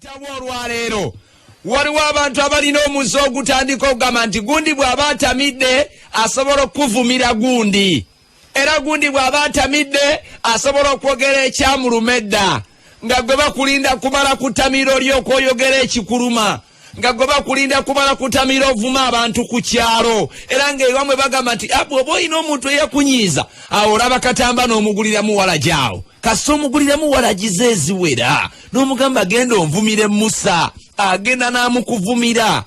Tabwa olwaleero waliwo abantu abalina omuze ogutandika okugamba nti gundi bw'aba atamidde asobola okukuvumira gundi era gundi bw'aba atamidde asobola okwogera ekyamuluma edda nga gwe bakulinda kumala kutamiro ly'okwoyogera ekikuluma nga gwe bakulinda kumala kutamira ovuma abantu ku kyalo era nga ewamwe bagamba nti ah, bwoba olina omuntu eyakunyiiza awo olaba katamba n'omuguliramu walagyawo kasita omuguliramu walagiza eziwera n'omugamba genda onvumire musa agenda n'amukuvumira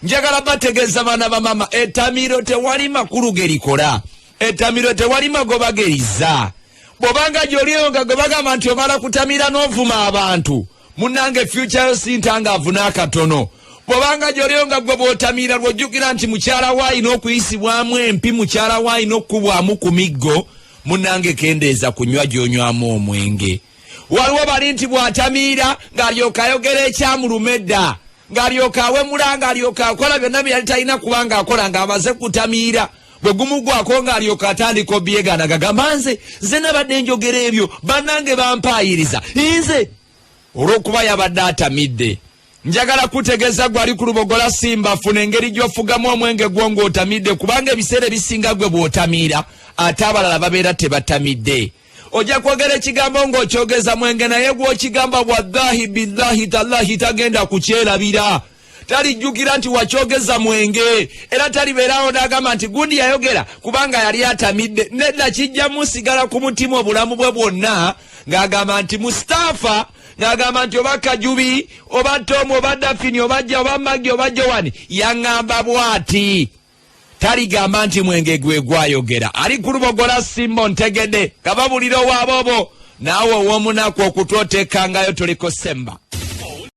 njagala bategeeza baana bamama etamiro tewali makulu gerikola etamiro tewali magoba geriza bwobanga gyoliyo nga gwe bagamba nti omala kutamira n'ovuma abantu munange fyukyayo sintanga avuna akatono bwobanga gyoliyo nga gwe bwotamira lwojjukira nti mukyala wo alina okuyisibwamu empi mukyala wo alina okukubwamu ku miggo munange kendeeza kunywa gyonywamu omwenge waliwo bali nti bw'atamiira ng'alyoka ayogera ekyamuluma edda ng'alyoka awemula ng'alyoka akola byonna bye yali talina kuba ng'akola ng'amaze kutamiira bwe gumugwako ng'alyoka atandika obyegana gagamba nze nze nabadde njogera ebyo bannange bampaayiriza nze olw'okuba yabadde atamidde Njagala kutegeza gwe ali ku lubogola simba funa engeri gy'ofugamu omwenge gwo ng'otamidde kubanga ebiseera ebisinga gwe bw'otamiira ate abalala babeera tebatamidde ojja kwogera ekigambo ng'okyogeza mwenge naye gw'okigamba bwadhahi bidhahi tallahi tagenda kukyerabira talijjukira nti wakyogeza mwenge era talibeerawo n'agamba nti gundi yayogera kubanga yali atamidde nedda kijja musigala ku mutima obulamu bwe bwonna ng'agamba nti mustaafa ng'agamba nti oba kajubi oba tomu oba dafini oba ja oba magi oba jowani yaŋŋamba bw'ati taligamba nti mwenge gwe gwayogera ali ku lubogola simbo ntegede nga babulira owaabobo naawe ow'omunaku okutwotekangayo tuliko semba